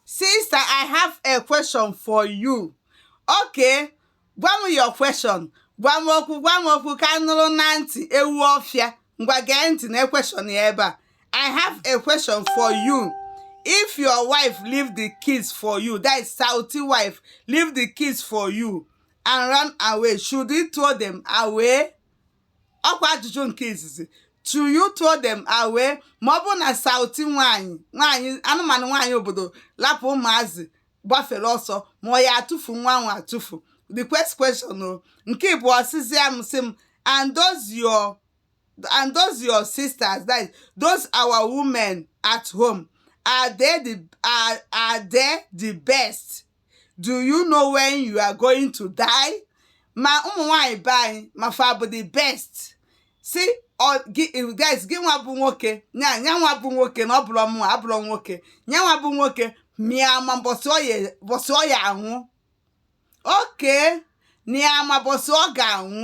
Sister, I have a question for you. Okay, gwa m your question. Gwa m okwu, gwa m okwu ka m nụrụ na ntị ewu ọfịa. Ngwa gee ntị na question ya ebe a. I have a question for you. If your wife leave the kids for you, that is Southy wife, leave the kids for you and run away, should you throw them away? ọkwa ajụjụ nke izizi should you throw them away ma ọ bụrụ na Southy nwaanyị nwaanyị anụmanụ nwaanyị obodo lapụ ụmụazị gbafere ọsọ ma ọ ya atụfu nwa nwe atụfu the quest question o nke ịbụọ sịzịa m sị m and those your and those your sisters that is, those our women at home are they the are, are they the best do you know when you are going to die ma ụmụ nwanyị be anyị ma fa bụ the best si guys gị nwa bụ nwoke nya nya nwa bụ nwoke na ọ bụrọ mụ abụrọ nwoke nya nwa bụ nwoke ma ya ma mbọsị ọ ya anwụ okay na ya ma mbọsị ọ ga-anwụ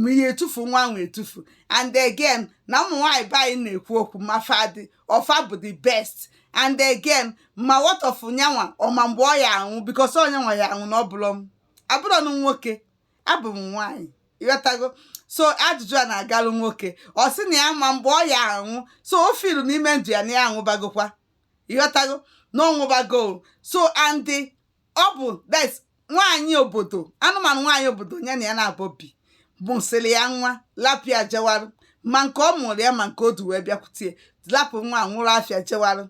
ma ị ya etufu nwa nwe etufu and again na ụmụ nwaanyị be anyị na-ekwu okwu ma fa dị ọ fa bụ the best and again ma what of nya nwa ọ ma mgbe ọ ya anwụ because ọ nya nwa ya anwụ na ọ bụrọ m abụrọ m nwoke abụ m nwaanyị ịghọtago so ajụjụ a na-agalụ nwoke ọ sị na ya ma mgbe ọ ya anwụ so ọ feel n'ime ndụ ya na ya anwụbagokwa ịghọtago na ọ nwụbago so and ọ bụ that's nwaanyị obodo anụmanụ nwaanyị obodo ya na ya naabọ bi mụsịrị ya nwa lapịa jewarụ ma nke ọ mụrụ ya ma nke o du wee bịakwutie lapụ nwa a nwụrụ afịa jewarụ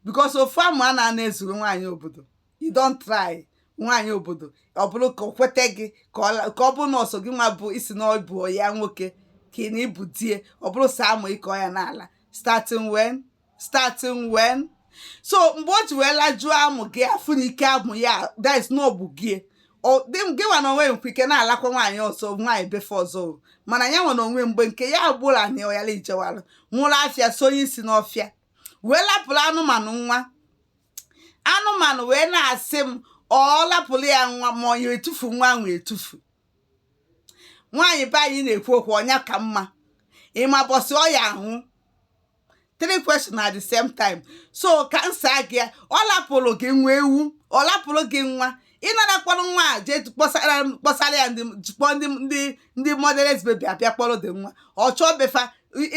because ofu amụ a na-ana ezuru nwaanyị obodo you don try nwaanyị obodo ọ bụrụ ka o kweta gị ka ọ la- ka ọ bụrụ na ọ sọ gị nwa bụ isi na ọ bụ ya nwoke ka ị na ị bụ di e ọ bụrọ sọ amụ ị ka ọ ya na-ala starting when starting when so mgbe o ji wee lajuo amụ gị afụ na ike amụ ya that is na ọ bụ gị Ọ- dị m- gị nwa na onwe nkwa ike na-alakwa nwaanyị ọzọ nwaanyị befe ọzọ o. mana ya nwa na onwe mgbe nke ya agbụla na ọyala ijewala nwụrụ afịa sonye isi n'ọfịa wee lapụrụ anụmanụ nwa anụmanụ wee na-asị m ọ lapụrụ ya nwa ma ọ ya etufu nwa nwe etufu nwaanyị be anyị na-ekwu okwu ọ nya ka mma ị ma mbọsị ọ ya anwụ three questions at the same time so ka m saa gị ya ọ lapụrụ gị nwa ewu ọ lapụrụ gị nwa ị nara kpọrọ nwa a jee kpọsara kpọsara ya ndị kpọọ ndị ndị ndị motherless baby abịa kpọrọ dị nwa ọ chọọ be fa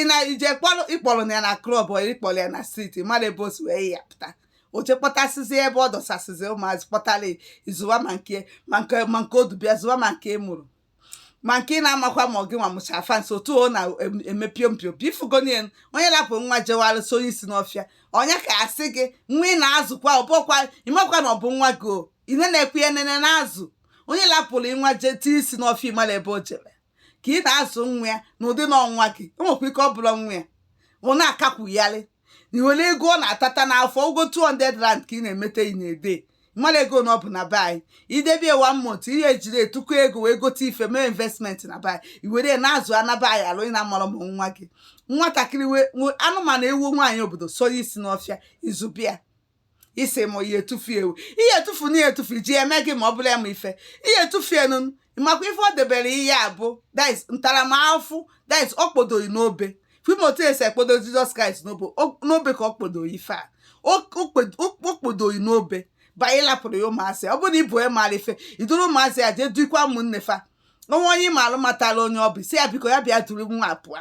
ị na ije kpọrọ ị kpọrọ na ya na club or ị kpọrọ ya na street mara ebe o si wee ya pụta o jee kpọtasịzi ebe ọ dọsasịzi ụmụazị kpọtara ị zụwa ma nke ma nke ma nke o du bịa zụwa ma nke mụrụ ma nke ị na-amakwa ma ọ gị nwa mụcha fansi otu ọ na-eme piom piom pifugonie onye lapụrụ nwa jewara sonye isi n'ọfịa onye ka a sị gị nwa ị na-azụkwa ọ bụkwa ị makwa na ọ bụ nwa gị o ị na-enekwa ya na-ene na-azụ onye lapụrụ nwa jee tie isi n'ọfịa ị mara ebe o jere ka ị na-azụ nwa ya na ụdị na ọ nwa gị o nwekwa ike ọ bụrụ nwa ya ọ na-akakwugharị na ị were ego ọ na-atata n'afọ ụgwọ 200 rand ka ị na-emete ị na-edebe ị mara ego na ọ bụ na be anyị i debie one month ị ya ejiri tụkọ ego wee gote ife mee investment na be anyị i were na-azụ anaba anyị alụ ị na-amarọ ma nwa gị nwatakịrị anụmanụ ewu nwaanyị obodo sọrọ isi n'ọfịa ị zụbe ya isi ma ihe etufu ewu ihe etufu na ihe etufu ji eme gị ma ọ bụla ma ife ihe etufu enu makwa ife ọ debere ihe a bụ that is ntaramahụhụ that is ọ kpodo gị n'obe ị ma otu e si ekpodo jizọs kraịst n'obe ka ọ kpodo gị ife a o kpodo gị n'obe bịa lapụrụ ya ụmụazị ọ bụrụ na ị bụ onye maara ife i duru ụmụazị ya jee duikwa ụmụnne fa o nwee onye ị maara matara onye ọ bụ sị ya biko ya bịa duru nwa pụọ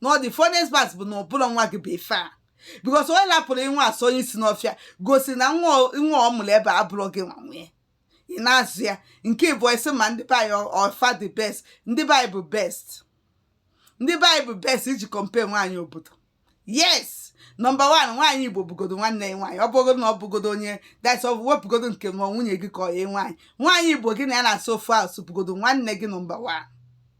na the funniest part bụ na ọ bụrọ nwa gị bụ ife a because onye lapụrụ nwa sonye isi n'ọfịa gosiri na nwa ọ- nwa ọ mụrụ ebe a abụrọ gị nwa nwe ị na-azụ ya nke bụ isi ma ndị be anyị ọ fa the best ndị be anyị bụ best ndị be anyị bụ best iji compare nwaanyị obodo yes number one nwaanyị igbo bụgodo nwanne ya nwaanyị ọ bụgodo na ọ bụgodo onye that's ọ bụ wepụgodo nke nwa nwunye gị ka ọ ya nwaanyị nwaanyị igbo gị na ya na-asụ ofu asụsụ bụgodo nwanne gị number one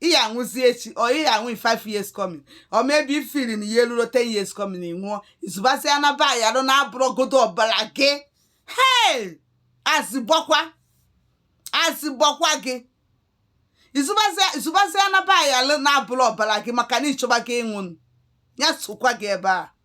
ị ya anwụzi echi or ị ya anwụ in five years coming or maybe ị feel na ihe eruro ten years coming ị nwụọ ị zụbazi anaba ya arụ na abụrọgodo ọbara gị hei azị gbakwa azị gbakwa gị ị zụbazi anaba ya arụ na abụrọ ọbara gị maka na ị chọba gị ịnwụ ya sokwa gị ebe a